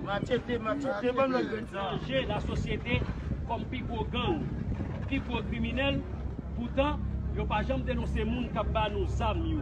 Machete machete banm lòt grenn sa. Danje la sosyete kòm pi gwo gang, pi gwo kriminèl, poutan yo pa janm denonse moun kap ba nou zam yo.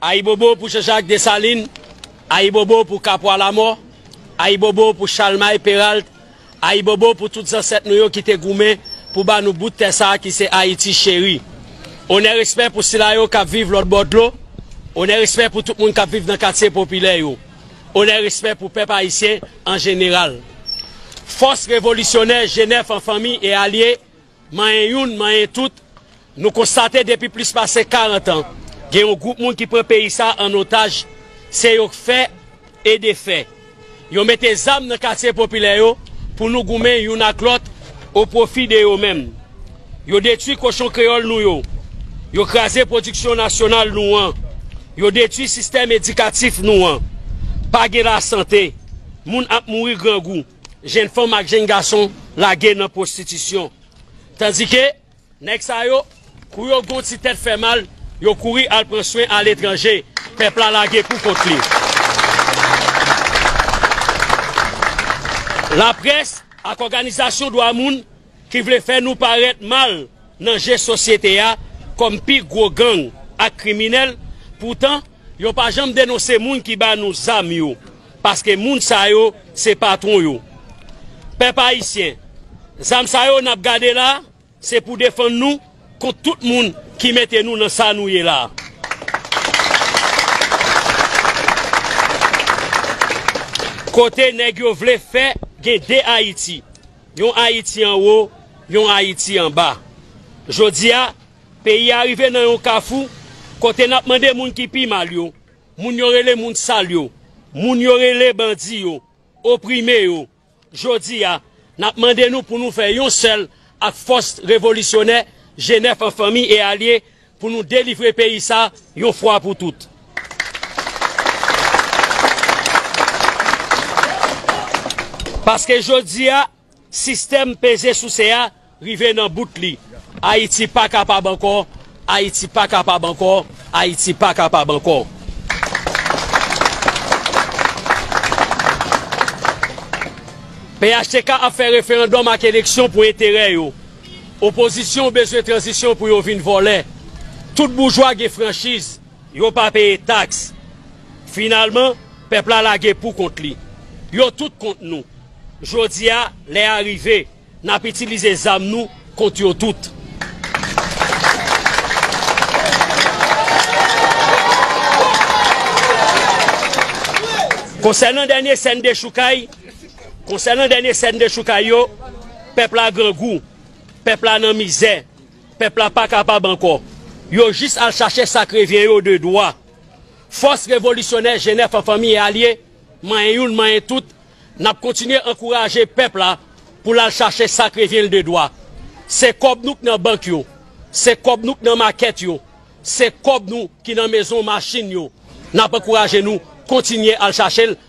Ayibobo pou Janjak Desalin, ayibobo pou Kapwa Lamò, ayibobo pou Chalmay Peralt, ayibobo pou tout zansèt nou yo ki te goumen pou ba nou bout tè sa a ki se Ayiti cheri. Onè respè pou sila yo k ap viv lòtbò dlo, onè respè pou tout moun k ap viv nan katye popilè yo, onè respè pou pèp ayisyen an jeneral. Fòs revolisyonè Jenèf an fanmi e alye Manyen youn, manyen tout, nou konstate depi plis pase 40 an, gen yon gwoup moun ki pran peyi sa an otaj, se yo k fè e defè. Yo mete zam nan katye popilè yo pou nou goumen youn ak lòt o pwofi de yo menm. Yo detwi kochon kreyòl nou yo, yo kraze pwodiksyon nasyonal nou an, yo detwi sistèm edikatif nou an. Pa gen lasante, moun ap mouri grangou. Jenn fanm ak jenn gason lage nan pwostitisyon. Tandike, nèg sa yo, kou yo gon ti tèt fè mal, yo kouri al pran swen aletranje. Pèp la lage pou kont li. Laprès ak òganizasyon dwa moun ki vle fè nou parèt mal nan je sosyete a kòm pi gwo gang ak kriminèl, poutan yo pa janm denonse moun ki ba nou zam yo, paske moun sa yo se patwon yo. Pèp ayisyen, zam sa yo n ap gade la, se pou defann nou kont tout moun ki mete nou nan sa nou ye la a. Kote nèg yo vle fè gen de Ayiti? Yon Ayiti anwo, yon Ayiti anba. Jodi a, peyi a rive nan yon kafou kote n ap mande moun ki pi mal yo, moun yo rele moun sal yo, moun yo rele bandi yo, oprime yo. Jodi a, n ap mande nou pou nou fè yon sèl ak fòs revolisyonè Jenèf an fanmi e alye Pou nou delivre peyi sa yon fwa pou tout. Paske jodi a sistèm peze souse a rive nan bout li. Ayiti pa kapab ankò, Ayiti pa kapab ankò, Ayiti pa kapab ankò. Phtk ap fè referandòm ak eleksyon pou enterè yo. Opozisyon bezwen tranzisyon pou yo vin vòlè. Tout boujwa gen franchiz, yo pa peye taks. Finalman, pèp la lage pou kont li. Yo tout kont nou. Jodi a, lè a rive, n ap itilize zam nou kont yo tout. Konsènan dènye sèn dechoukay. Konsènan dènye sèn dechoukay yo, pèp la grangou, pèp la nan mizè, pèp la pa kapab ankò. Yo jis al chache sa k revyen yo de dwa. Fòs revolisyonè Jenèf an fanmi e alye, manyen youn manyen tout, n ap kontinye ankouraje pèp la pou l al chache sa k revyen l de dwa. Se kòb nou k nan bank yo, se kòb nou k nan makèt yo, se kòb nou ki nan mezon machin yo, n ap ankouraje nou kontinye al chache l.